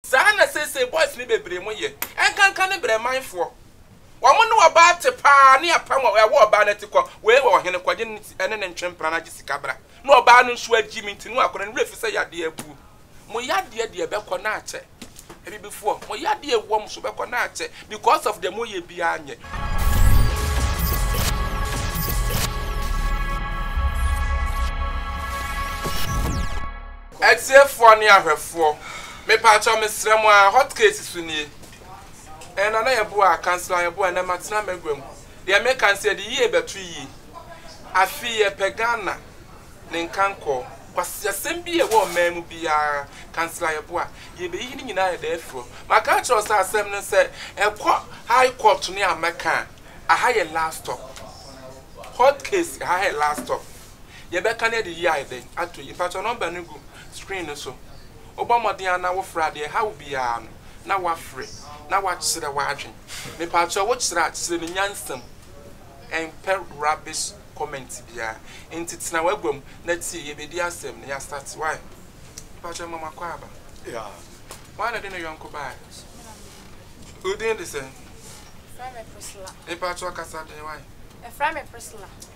Saa na seesei boys no bebree mo yɛ. Ɛnkanka ne brɛ man foɔ. Wɔn ne ɔbaa te paa ne apam a ɛwɔ ɔbaa no ati kɔ wei wɔ ɔhene kɔ gye ne ne ne ntwe mpena no agye sika bra na ɔbaa no nso agyi me nti no akɔda ne werɛ fi sɛ yadeɛ abuo. Mo yadeɛ deɛ ɛbɛkɔ na akyɛ. Abibifoɔ mo yadeɛ a ɛwɔ mo so bɛkɔ na akyɛ because of deɛ mo yɛ biara nyɛ. Atiefoɔ ne ahwɛfoɔ, mepaakyɛw mesrɛ mo ara, hot case so nie. Ɛɛ Nana Yeboah, Councillor Yeboah, ɛnɛ matena m'agua mu. Deɛ meka ne sɛ yɛde yie bɛto yie. Afei yɛpɛ Ghana ne nkankɔɔ. Kwasiasɛm bi a ɛwɔ ɔman mu biara, Councillor Yeboah, yɛbɛyiyi ne nyinaa yɛde afiri hɔ. Maka akyerɛ wo sɛ asɛm no sɛ ɛkɔ High Court ne Amɛka a, aha yɛ last stop. Hot case, aha yɛ last stop. Yɛbɛka no adi yie ayɛ dɛn ato yi? Mpakyɛw nɔmba no gu screen no so. Wobɔ mmɔden ara na wofrɛ a, deɛ ɛha wo biara no na woafrɛ na woakyerɛ w'adwene. Mepakyɛw wokyerɛ a, kyerɛ no nyansam. Ɛmpɛ rubbish comment biara. Nti tena w'agua mu na tie. Yɛbɛdi asɛm na yɛastate. Wai? Mepakyɛw ma moakɔ aba. Hwan na ɔde ne yɔnko baeɛ? Wo din de sɛn? Mepakyɛw kasa den. Wai? Ɛfrɛ me Priscilla.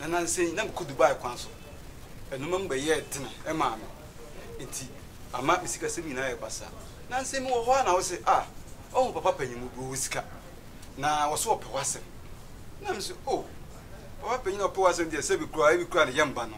na nnansa yi na mekɔ Dubai kwan so. Nnoɔma mu bɛyɛɛ dene maa me, enti ama me sikasɛm nyinaa yɛ basaa. Nnansa yi mewɔ hɔ ara na wose, Ah, woahu papa panyin mu bi, ɔwɔ sika, na ɔse ɔpɛ w'asɛm. Na mese, Oh, papa panyin a ɔpɛ w'asɛm deɛ, sɛbe koraa ebi koraa ne yam ba no,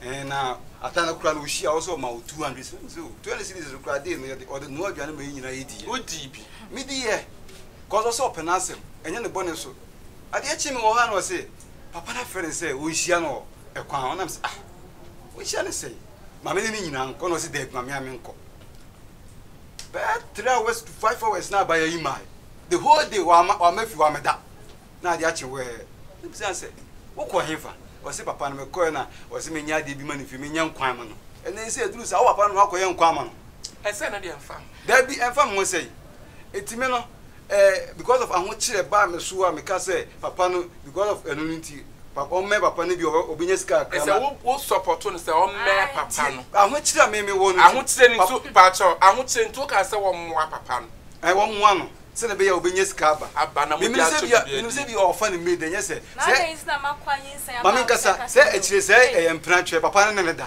eh, na ata no koraa no ɔhyia a, ɔse ɔma wo two hundred cedis. Mese, Oh, two hundred cedis no koraa deɛ no yɛde, ɔde noa aduane ma yɛn nyinaa yɛdiiɛ. Wodii bi. Mediiɛ, cause ɔse ɔpɛ n'asɛm, ɛnyɛ ne bɔne so. Adeɛ kyee mewɔ hɔ ara na ɔse, papa no afrɛ no sɛ ɔnhyia no wɔ kwan ho, nam sɛ ah ɔnhyia no sɛn, maame ne no nyinaa nkɔ, na ɔse daabi ma mea menkɔ. Bɛyɛ three hours to five hours na abaayewa yi mae, the whole day wama wama fi wama da, na ade akye wɛɛ, na bisa no sɛ wokɔ he fa, ɔse papa no mekɔɛ na ɔse menyɛ adeɛ bi ma no fie, menyɛ nkwan ma no, ɛnɛ sɛ aduru saa wo papa no na wakɔyɛ nkwan ama no. Ɛsɛ no deɛ ɛmfa ho. Daabi ɛmfa me ho sɛn, enti me no Eh because of ahokyerɛ baa me so a meka sɛ papa no because of ɛno no nti papa ɔmmɛn papa no bi a ɔbɛnya sika kakra na. Ɛsɛ wo wo support no sɛ ɔmmɛn papa no. Tie ahokyerɛ a me me wɔ no nti. Ahokyerɛ no nti pakyɛw ahokyerɛ nti woka sɛ wɔmmoa papa no. Ɛɛ wɔmmoa no sɛdeɛ ɛbɛyɛ a ɔbɛnya sika aba. Aba na mode akyɛ biribi adi. Menim sɛ bi a ɔfa ne maid ɛnyɛ sɛ. Na adɛn nti na makɔ anyinsɛn aba a wosɛ ɛka sɛ. Maame nkasa sɛ akyire sɛ ɛyɛ mpena twɛ papa no ne no da.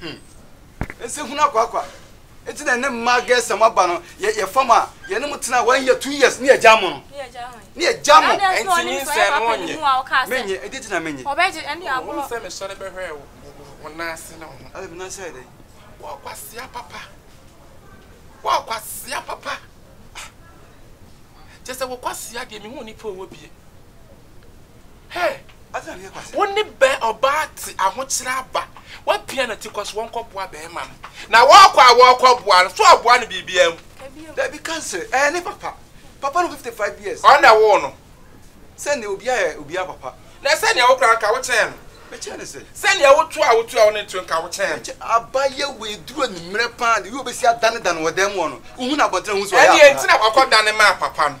Hmm. Ɛsɛ hunu akwakwa. Ɛti na ne mma gɛsɛm aba no yɛ fam a yɛne mo tena wɔn yɛ two years ne yɛgya mo no. Ne yɛgya mo. Ɛnti nyi nsɛn no wɔnyɛ. Menye ɛdi ti na menye. Ɔbɛgye ɛne abo. Wɔn sɛ mesɔre bɛhwɛ wɔn nan ase na wɔn. Ɛdi mi nan ase yɛ dɛ. Wɔn kwasia papa. Wɔn kwasia papa. Kyɛ sɛ wɔn kwasia deɛ mehu nipa ɔwɔ bie. Hey! Wo ne bɛ ɔbaa te ahokyerɛ aba. W'apia na ti kɔ so wɔn kɔ boa bɛɛma no. Na wɔɔkɔ a wɔɔkɔ boa no, so ɔboa no biribiaa mu? Dabi ka nsɛ, ɛɛ ne papa. Papa no 55 years. Ɔno na ɛwoo no. Sɛ neɛ obia yɛ obia papa. Na sɛ neɛ wo kora nka wo kyɛn no. Me kyɛn no sɛ? Sɛ neɛ wo to a wo to a wo ne to nka wo kyɛn no. Aba yɛ wei duru animmerɛ paa de wei obɛsi adane dane wɔ dan mu hɔ no, wo hu no abɔntene a hu sɛ ɔyɛ akora. Ɛneɛ nti na wakɔ dane maa papa no.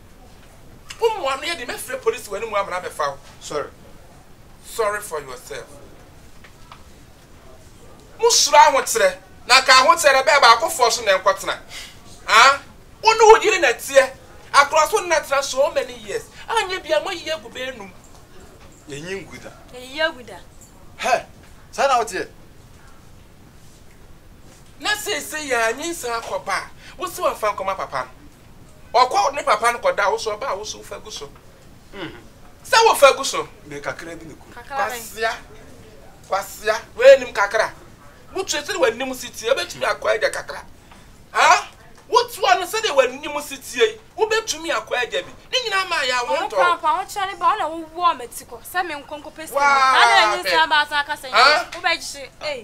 Wo mmoa no yɛ den mɛfrɛ police wɔ anim amena abɛfa wo sorry sorry for yourself Mo suro ahokyerɛ na nka ahokyerɛ no bɛɛ baako foɔ so na ɛnkɔ tena ah Wo ne wo yere na ɛteɛ akorɔ so na tena so many years anyɛ bia mo ayi agu bɛɛ num Yɛnyi ngu da Yɛnyi agu da Hɛ saa na wo teɛ Na seisei yɛanyi nsan akɔ ba a Wo se wamfa nkɔma papa no. Ɔkɔ ne papa no kɔda wo so ɔbaa wo so wofa gu so sɛ wofa gu so. Me kakra bi ne ku. Kwasia kwasia wei nim kakra wotua sɛdeɛ w'anim si tie wobɛtumi akɔ agya kakra ha wotua no sɛdeɛ w'anim si tie yi wobɛtumi akɔ agya bi ne nyinaa maa yɛ awo ntɔ ɔmo kora ahokyerɛ ne ba ɔna wowɔ ɔmo ti kɔ sɛ me nkonko pɛ sɛ na na enyi nsa baasa akasa yi wobɛgye ee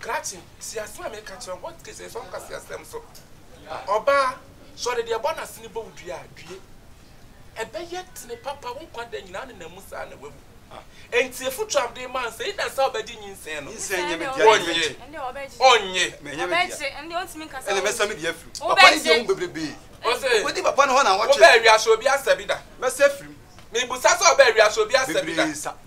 Krakye, si asem a meka kyerɛ wo, hɔ te sɛ fam kase asem so. Ɔbaa, sɛ ɔde deɛ ɛbɔ n'asene bɔ wo dua a, due. Ɛbɛyɛ tene papa wo nkwa da nyinaa nenam mu saa na woawu. Enti afotuo a mede rema wo sɛ, either sɛ wobɛgye nyinsɛn no, wonnye, ɔnnye. Ɔbɛgye, ɛnneɛ ɔntumi nka sɛ ɔnnye. Wobɛgye. Ɔse, wobaa wiase obi asa bi da? Mebusa sɛ ɔbaa wiase obi asa bi da?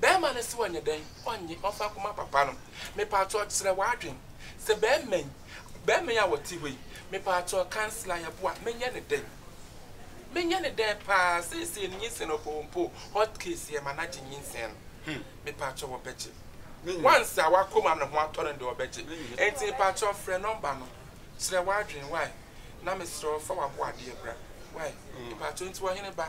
Bɛɛma no se ɔnyɛ dɛn? Ɔnnye, ɔmfa akoma papa no. Mepaakyɛw kyerɛ w'adwen. Sɛ bɛɛma yi, bɛɛma yi a ɔte hɔ yi, mepaakyɛw kansela yɛboa, menyɛ no dɛn? Menyɛ no dɛn paa? Seesei no nyinsɛn no ɔpɛ ɔmpo o, hot case yɛma no agye nyinsɛn no. Hmm, mepaakyɛw ɔbɛgye. Once a w'akoma no ho atɔ no deɛ ɔbɛgye. Enti mepaakyɛw frɛ nɔmba no, kyerɛ w'adwen, wai? Na mesrɛ wo fa w'aboadeɛ bra, wai? Mepaakyɛw, enti ɔhene ba.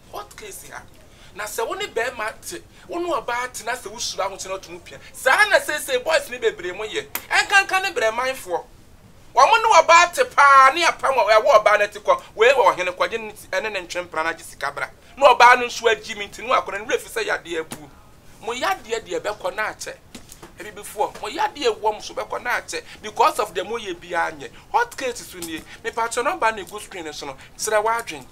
Court case ha na sɛ wo ne bɛɛma te wo ne ɔbaa te na sɛ wo hyira ho kyɛ na ɔto mu pia saa na seesei boys ne bebree mo yɛ ɛnkanka ne brɛmanfoɔ wɔn ne ɔbaa te paa ne apam wɔ ɛwɔ ɔbaa no ati kɔ wei wɔ ɔhene kɔ gye ne ne ne ntwe mpena na gye sika bra na ɔbaa no nso agyi mi nti no akɔnɔ ne werɛ fi sɛ yadeɛ abuo mo yadeɛ deɛ bɛkɔ na akyɛ abibifoɔ mo yadeɛ wɔ mo so bɛkɔ na akyɛ because of deɛ mo yɛ biara nyɛ hot case so nie mepatwɛ nɔmba ne gu screen no so no kyerɛ w'adwen.